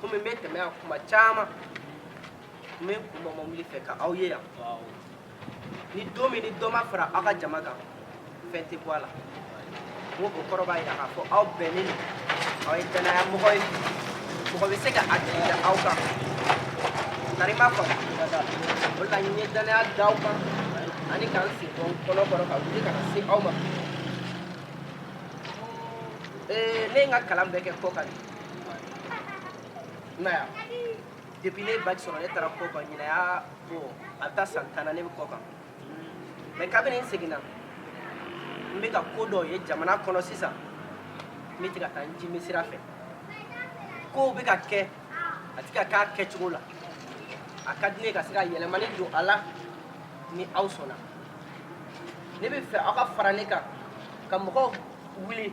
komi n bɛ tɛmɛ yan tuma caman n bɛ n kun bɔ mobili fɛ ka aw ye yan ni don min ni dɔ ma fara aw ka jama kan fɛn tɛ bɔ a la n ko o kɔrɔ b'a jira k'a fɔ aw bɛnnen don aw ye dannayamɔgɔ ye mɔgɔ bɛ se ka a jigi da aw kan tari ma faamu o de la n ye dannaya da aw kan ani ka n sen bɔ n kɔnɔ kɔrɔ ka wuli ka na se aw ma ee ne ye n ka kalan bɛɛ kɛ kɔkan de i m'a ye depuis ne ye bac sɔrɔ ne taara kɔ kan ɲinan y'a bɔ a bɛ taa san tan na ne bɛ kɔ kan mais kabini n seginna n bɛ ka ko dɔ ye jamana kɔnɔ sisan n bɛ tɛ ka taa n jimi sira fɛ kow bɛ ka kɛ a tɛ ka k'a kɛcogo la a ka di ne ka se ka yɛlɛmani don a la ni aw sɔnna ne bɛ fɛ aw ka fara ne kan ka mɔgɔw wuli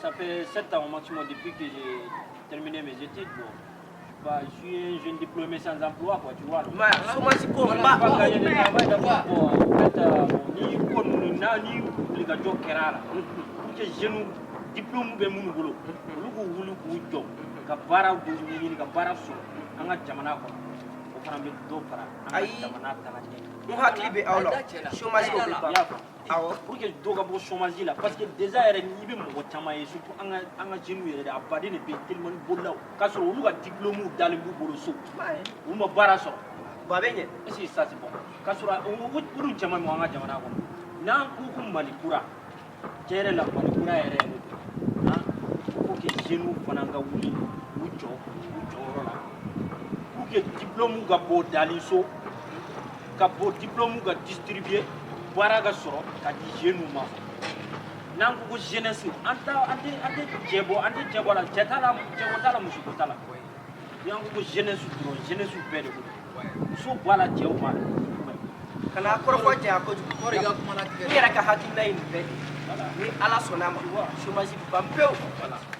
Ça fait 7 ans au maximum depuis que j'ai terminé mes études. Bon. Bah, je suis un jeune diplômé sans emploi, quoi, tu vois. Donc, bah, chômage ko on n'a pas gagné de travail d'abord bon en fait euh, ni ko ni wulikajɔ kɛra a la. Pour que jeunes diplômes bɛ minnu bolo, olu k'u wuli k'u jɔ, ka baara dɔw ɲɛɲini ka baara sɔrɔ an ka jamana kɔnɔ o fana bɛ dɔ fara an ka jamana tagaɲɛ n hakili bɛ a la chômage ko bɛ ban awɔ pour que dɔ ka bɔ chômage la parce que déjà yɛrɛ n'i bɛ mɔgɔ caman ye surtout an ka an ka jeunes yɛrɛ de an baden de bɛ yen telimani bolilaw k'a sɔrɔ olu ka diplôme dalen b'u bolo so u ma baara sɔrɔ bon a bɛ ɲɛ est ce que ça c'est bon k'a sɔrɔ olu caman bɛ an ka jamana kɔnɔ n'an ko ko mali kura tiɲɛ yɛrɛ la mali kura yɛrɛ yɛrɛ don han faut que jeunes fana ka wuli u jɔ u jɔyɔrɔ la pour que diplôme ka bɔ dalen so ka bɔ diplôme ka distribuer baara ka sɔrɔ ka di jeunes ma n'an ko ko jeunesse an t'a an tɛ an tɛ cɛ bɔ an tɛ cɛ bɔ a la cɛ t'a la cɛko t'a la musoko t'a la n'an ko ko jeunesse dɔrɔn jeunesse bɛɛ de ko don muso b'a la cɛw b'a la kana kɔrɔfɔ janya kojugu o de ka kuma latigɛ n yɛrɛ ka hakilina ye nin bɛɛ de ye ni ala sɔnna a ma chômage bɛ ban pewu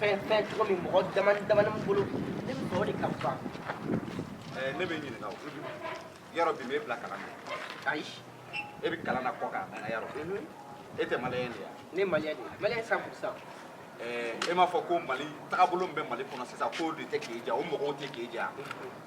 fɛn fɛn cogo min mɔgɔ dama damani bolo ne bɛ fɛ o de ka ban eh, ne bɛ ɲininka o yɔrɔ bi m'e bila kalan na ayi e bɛ kalan na kɔ kan a yɔrɔ mhm. e tɛ maliyɛn de ye wa ne maliyɛn de ye maliyɛn cent pour cent eh, e m'a fɔ ko mali tagabolo min bɛ mali kɔnɔ sisan k'o de tɛ k'e diya o mɔgɔw tɛ k'e diya mhm.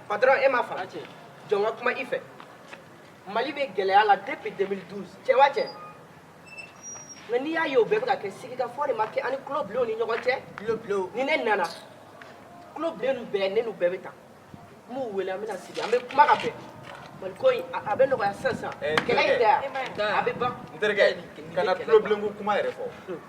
patron e m'a faamu jɔ n ka kuma i fɛ mali bɛ gɛlɛya la depuis 2012 cɛ wa cɛ nka n'i y'a ye o bɛɛ bɛ ka kɛ sigikafɔ de ma kɛ an ni tulo bilenw ni ɲɔgɔn cɛ ni ne nana tulo bilen ninnu bɛɛ ne n'u bɛɛ bɛ ta n b'u wele an bɛna sigi an bɛ kuma ka bɛn mali ko in a bɛ nɔgɔya sisan sisan kɛlɛ in tɛ yan a bɛ ban n terikɛ kana tulo bilenko kuma yɛrɛ fɔ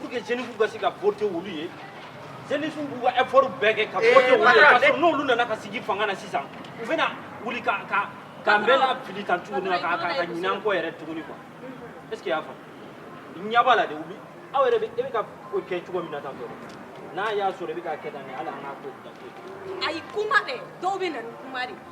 pour que jeunesse ka se ka voter olu ye jeunesse b'u ka effort bɛɛ kɛ ka voter olu ye parce que n'olu nana ka sigi fanga na sisan u bɛna wuli ka ka k'an bɛɛ lafili tan tuguni ka ka ka ɲinɛ an kɔ yɛrɛ tuguni quoi est ce que i y'a faamu ɲɛ b'a la de wuli aw yɛrɛ bɛ e bɛ ka ko kɛ cogo min na tan tɔ n'a y'a sɔrɔ i bɛ k'a kɛ tan de hali an k'a ko bila ko ayi kuma dɛ dɔw bɛ na ni kuma de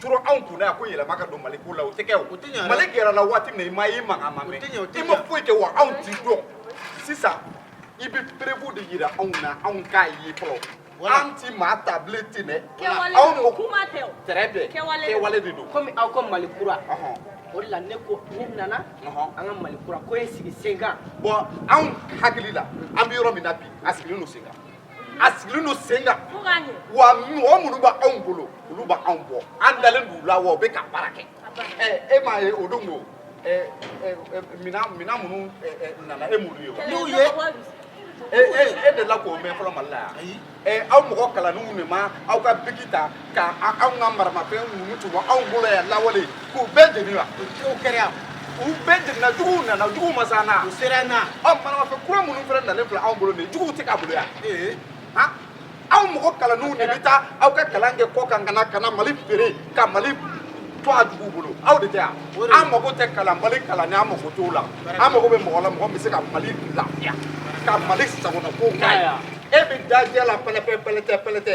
turu anw kunna yan ko yɛlɛma ka don mali ko la o tɛ kɛ o mali gɛrɛla waati min na i ma i mankan ma mɛn i ma foyi kɛ wa anw t'i dɔn sisan i bɛ preuve de yira anw na anw k'a ye fɔlɔ an ti maa ta bilen ten dɛ anw ko kuma tɛ o très bien kɛwale de don komi aw ko mali kura o de la ne ko ne nana an ka mali kura ko ye sigi sen kan bɔn anw hakili la an bɛ yɔrɔ min na bi a sigilen don sen kan a sigilen don sen kan wa mɔgɔ minnu bɛ anw bolo olu bɛ anw bɔ an dalen don u la wa u bɛ ka baara kɛ e m'a ye o don ko minɛn minɛn minnu nana e m'olu ye wa. n'u ye e e e delila k'o mɛn fɔlɔ mali la yan aw mɔgɔ kalannenw de ma aw ka biki ta. ka anw ka maramafɛn minnu tun b'anw bolo yan lawale k'u bɛɛ jeni wa o cogo kɛra yan u bɛɛ jenina juguw nana juguw ma s'an na u sera an na ɔ maramafɛn kura minnu fana nalen filɛ anw bolo nin ye juguw tɛ k'a bolo yan ee han aw mɔgɔ kalannenw de bɛ taa aw ka kalan kɛ kɔkan ka na ka na mali feere ka mali to a juguw bolo aw de tɛ yan an mago tɛ kalan mali kalanni an mago t'o la an mago bɛ mɔgɔ la mɔgɔ min bɛ se ka mali lafiya ka mali sagonako k'a ye e bɛ dajɛ la pɛlɛpɛ pɛlɛtɛ pɛlɛtɛ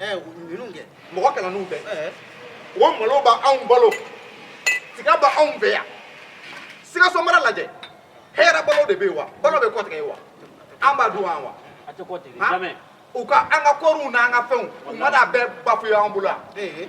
ninnu kɛ mɔgɔ kalannenw bɛ o malo bɛ anw balo tiga bɛ anw fɛ yan sikaso mara lajɛ hɛrɛ balo de bɛ yen wa balo bɛ kɔtigɛ yen wa an b'a dun wa u ka an ka kɔɔriw n'an ka fɛnw u ma d'a bɛɛ bafouer an bolo yan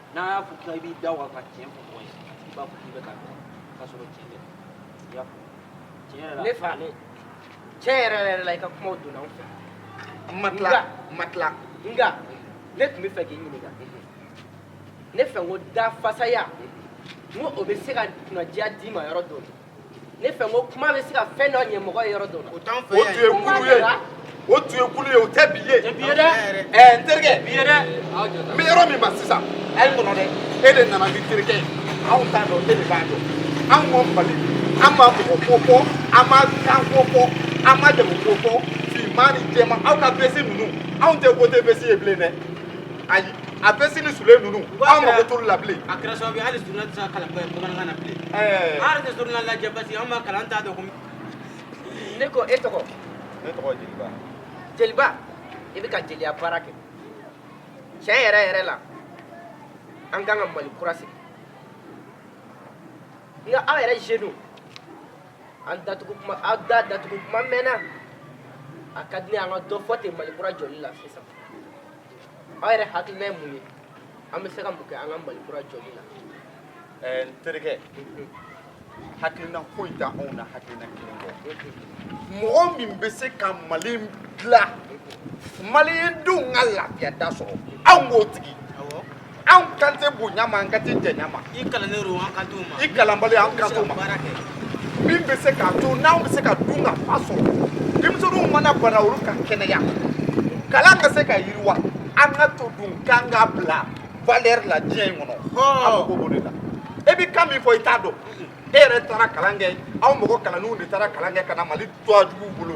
n'a y'a fɔ k'i b'i da waga ka tiɲɛ fɔ mɔgɔ ye a tigi b'a fɔ k'i bɛ k'a nɛni k'a sɔrɔ tiɲɛ tɛ i y'a faamu tiɲɛ yɛrɛ la ne fa ne tiɲɛ yɛrɛ yɛrɛ la i ka kumaw donna n fɛ ma tila ma tila nka ne tun bɛ fɛ k'i ɲininka ne fɛ n ko dafasaya n ko o bɛ se ka kunnadiya d'i ma yɔrɔ dɔ la ne fɛ ko kuma bɛ se ka fɛn dɔ ɲɛ mɔgɔ ye yɔrɔ dɔ la. o t'an fɛ yan o tun ye kunun ye o tun ye kunun ye o tɛ bi ye. tɛ bi ye dɛ. ɛɛ n terikɛ. bi ye dɛ. n bɛ yɔrɔ min na sisan. a ye kɔnɔ dɛ. e de nana ni terikɛ ye anw t'a dɔn e de b'a dɔn anw ma mali an ma mɔgɔ ko fɔ an ma kan ko fɔ an ma jamu ko fɔ finman ni jɛman aw ka veste ninnu anw tɛ voter veste ye bilen dɛ. ayi a veste ni soulier ninnu an mako t'olu la bilen. a kɛra sababu ye hali journal tɛ se ka kalan bamanankan na bilen. ɛɛ. an yɛrɛ tɛ journal lajɛ parce que an ma kalan an t'a dɔn ko. ne ko e tɔgɔ. ne tɔgɔ jeliba. jeliba i bɛ ka jeliya baara kɛ tiɲɛ yɛrɛ yɛrɛ la an ka kan ka mali kura sigi nka aw yɛrɛ jeunes an datugu kuma aw da datugu kuma mɛnna a ka di ne ye an ka dɔ fɔ ten mali kura jɔli la sisan aw yɛrɛ hakilina ye mun ye an bɛ se ka mun kɛ an ka mali kura jɔli la ɛɛ n terikɛ hakilina foyi tɛ anw na hakilina kelen kɔ mɔgɔ min bɛ se ka mali dilan malien denw ka lafiya da sɔrɔ anw k'o tigi anw kan tɛ bonya ma an kan tɛ jɛnya ma i kalannen don an kan t'o ma i kalanbali an kan t'o ma min bɛ se k'a to n'anw bɛ se ka dun ka fa sɔrɔ denmisɛnninw mana bana olu ka kɛnɛya kalan ka se ka yiriwa an ka to dun k'an k'a bila valeur la diɲɛ in kɔnɔ an mago b'o de la e bɛ kan min fɔ i t'a dɔn e yɛrɛ taara kalan kɛ aw mɔgɔ kalanninw de taara kalan kɛ ka na mali to a juguw bolo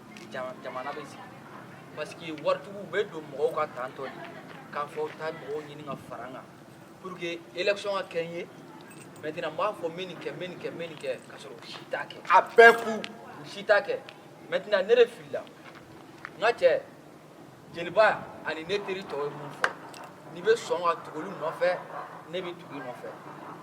jamana bɛ sigi parce que waritigiw bɛ don mɔgɔw ka tan tɔ de k'a fɔ taa mɔgɔw ɲinin ka fara n kan pour que election ka gagner maintenant n b'a fɔ n bɛ nin kɛ n bɛ nin kɛ n bɛ nin kɛ k'a sɔrɔ u si t'a kɛ a bɛɛ fu u si t'a kɛ maintenant ne de filila n ka cɛ jeliba ani ne teri tɔw ye min fɔ n'i bɛ sɔn ka tugu olu nɔfɛ ne bɛ tugu i nɔfɛ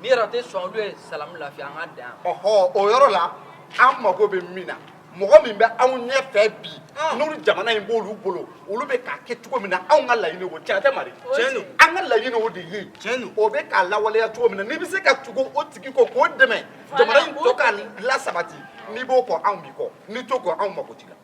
n'i yɛrɛ tɛ sɔn olu ye salamu lafiya an ka dan yan. ɔhɔ o yɔrɔ la an mago bɛ min na mɔgɔ min bɛ anw ɲɛfɛ bi n'olu jamana in b'olu bolo olu bɛ k'a kɛ cogo min na anw ka laɲini o tiɲɛ tɛ mari tiɲɛ don an ka laɲini o de ye tiɲɛ don o bɛ k'a lawaleya cogo min na n'i bɛ se ka tugu o tigi kɔ k'o dɛmɛ jamana in tɔ ka lasabati n'i b'o kɔ anw b'i kɔ n'i t'o kɔ anw mago t'i la.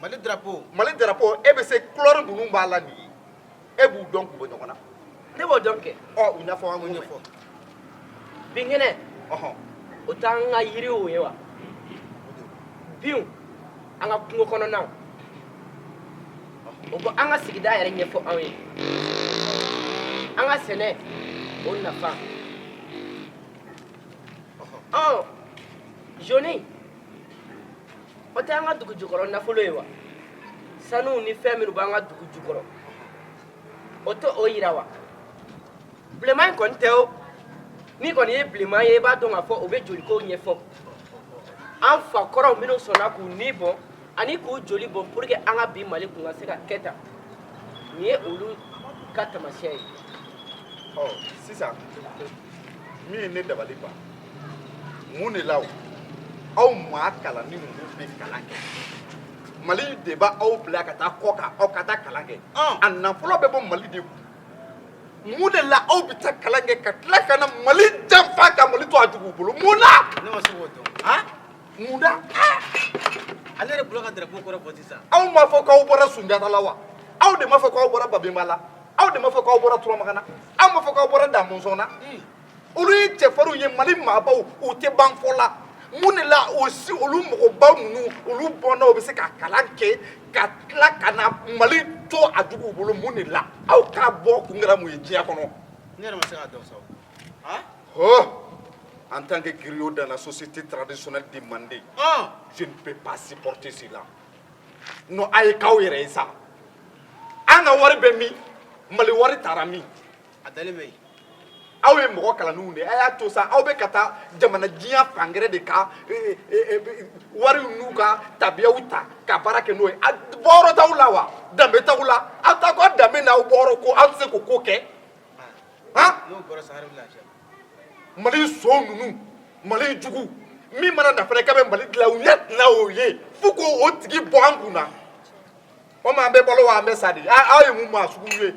mali drapeau mali drapeau e bɛ se couleur ninnu b'a la nin ye e b'u dɔn k'u bɔ ɲɔgɔn na ne b'o dɔn kɛ ɔ u ɲɛfɔ an ye ɲɛfɔ binkɛnɛ ɔhɔn o t'an ka yiriw ye wa binw an ka kungo kɔnɔnaw o b'an ka sigida yɛrɛ ɲɛfɔ anw ye an ka sɛnɛ o nafa ɔɔ jaune o tɛ an ka dugu jukɔrɔ nafolo ye wa sanu ni fɛn minnu b'an ka dugu jukɔrɔ o tɛ o yira wa bilenman in kɔni tɛ o n'i kɔni ye bilenman ye i b'a dɔn k'a fɔ o bɛ joliko ɲɛfɔ an fa kɔrɔw minnu sɔnna k'u ni bɔ ani k'u joli bɔn pour que an ka bi mali kun ka se ka kɛ tan nin ye olu ka taamasiyɛn ye ɔ sisan min ye ne dabali ban mun de la o aw maa kalannin ninnu bɛ kalan kɛ mali de b'aw bila ka taa kɔ kan aw ka taa kalan kɛ a nafolo bɛ bɔ mali de kun mun de la aw bɛ taa kalan kɛ ka tila ka na mali janfa ka mali to a juguw bolo mun na ne ma se k'o dɔn mun na ale yɛrɛ bolo ka drapeau kɔrɔ fɔ sisan aw m'a fɔ k'aw bɔra sunjata la wa aw de m'a fɔ k'aw bɔra babemba la aw de m'a fɔ k'aw bɔra turamagan na aw m'a fɔ k'aw bɔra damɔzɔn na olu ye cɛfarinw ye mali maabaw u tɛ ban fɔ la mun de la aussi olu mɔgɔba ninnu olu bɔnnaw bɛ se ka kalan kɛ ka tila ka na mali to a juguw bolo mun de la aw ka bɔ kun kɛra mun ye diɲɛ kɔnɔ ne yɛrɛ ma se k'a dɔn sa o en tant que griot dans la société traditionnelle de Mandé, ah. je ne peux pas supporter cela. Non, a ye k'aw yɛrɛ ye sa. An ka wari bɛ min, mali wari taara min. A dalen bɛ yen. Aw ye mɔgɔ kalannenw de ye a y'a to sa aw bɛ ka taa jamana diɲɛ fan gɛrɛ de ka eh, eh, eh, wari n'u ka tabiyaw ta ka baara kɛ n'o ye a bɔyɔrɔ t'aw la wa danbe t'aw la aw ta ko danbe n'aw bɔyɔrɔ ko aw tɛ se k'o ko kɛ. mali so ninnu mali jugu min mana na fana k'a bɛ mali dilan u ɲɛ tɛna o ye fo k'o tigi bɔ an kun na o ma an bɛ balo wa an bɛ sa de aw ye mun maa sugu ye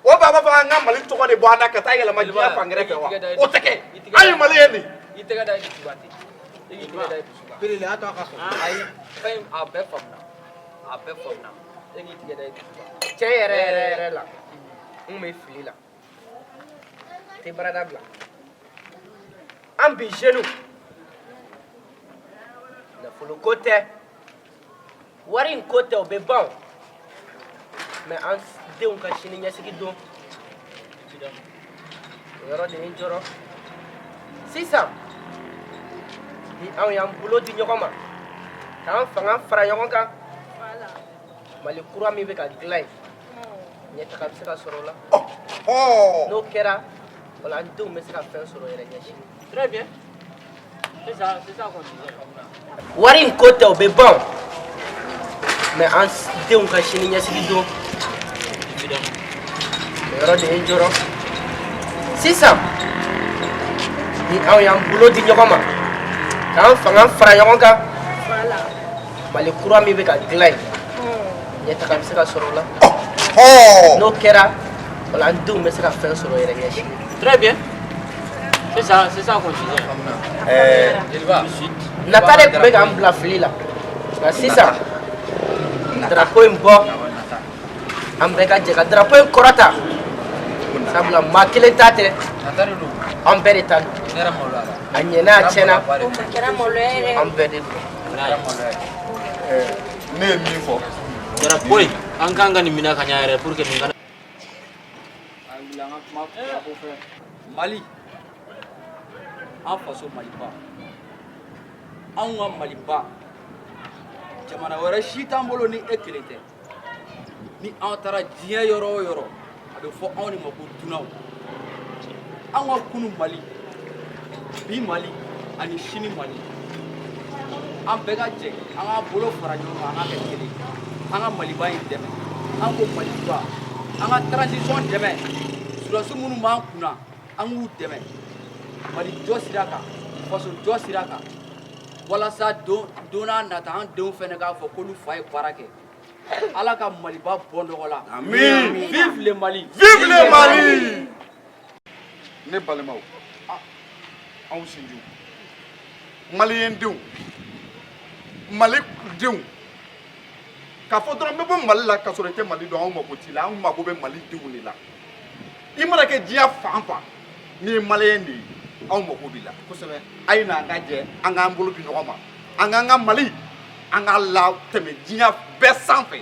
o b'a fɔ an ka mali tɔgɔ de bɔ an na ka taa yɛlɛma diɲɛ fan gɛrɛ fɛ wa o tɛ kɛ an ye maliyɛn de. i tɛgɛ da i dusu kan ten i k'i tɛgɛ da i dusuba. a bɛɛ faamuna e k'i tɛgɛ da i dusu kan tiɲɛ yɛrɛ yɛrɛ yɛrɛ la n bɛ fili la n tɛ baarada bila an bi jeunes nafolo ko tɛ wari in ko tɛ o bɛ ban mais an denw ka sini ɲɛsigi don yɔrɔ de ye n jɔrɔ sisan ni anw y'an bolo di ɲɔgɔn ma k'an fanga fara ɲɔgɔn kan mali kura min bɛ ka dilan yen ɲɛtaga bɛ se ka sɔrɔ o la n'o kɛra wala an denw bɛ se ka fɛn sɔrɔ yɛrɛ ɲɛsini wari in ko tɛ o bɛ ban mais an denw ka sini ɲɛsigi don o yɔrɔ de ye n jɔrɔ sisan ni anw y'an bolo di ɲɔgɔn ma k'an fanga fara ɲɔgɔn kan mali kura min bɛ ka dilan yen ɲɛtaga bɛ se ka sɔrɔ o la n'o kɛra wala an denw bɛ se ka fɛn sɔrɔ yɛrɛ ɲɛsini très bien Nata de tun bɛ k'an bila fili la nka sisan drapeau in bɔ an bɛɛ ka jɛ ka drapeau in kɔrɔta sabula maa kelen ta tɛ an bɛɛ de ta a ɲɛna a tiɲɛna an bɛɛ de ne ye min fɔ drapeau in an ka kan ka nin minɛ ka ɲɛ yɛrɛ pour que An wuli an ka kuma ko fɛ mali an faso maliba anw ka maliba jamana wɛrɛ si t'an bolo ni e kelen tɛ ni an taara diɲɛ yɔrɔ o yɔrɔ a bɛ fɔ anw de ma ko dunanw anw ka kunu mali bi mali ani sini mali an bɛɛ ka jɛ an ka bolo fara ɲɔgɔn kan an ka kɛ kelen an ka maliba in dɛmɛ an ko maliba an ka transition dɛmɛ sɔrɔdasiw minnu b'an kunna an k'u dɛmɛ mali jɔ sira kan faso jɔ sira kan walasa don nata an denw fɛnɛ k'a fɔ k'olu fa ye baara kɛ ala ka maliba bɔ nɔgɔ la vive le mali vive le mali ne balimaw anw sinjiw maliyɛn denw mali denw k'a fɔ dɔrɔn n bɛ bɔ mali la k'a sɔrɔ i tɛ mali dɔn anw mako t'i la anw mako bɛ mali denw de la i mana kɛ diɲɛ fan fan n'i ye maliyɛn de ye anw mako b'i la kosɛbɛ a ye na an ka jɛ an k'an bolo di ɲɔgɔn ma an k'an ka mali an k'a latɛmɛ diɲɛ bɛɛ sanfɛ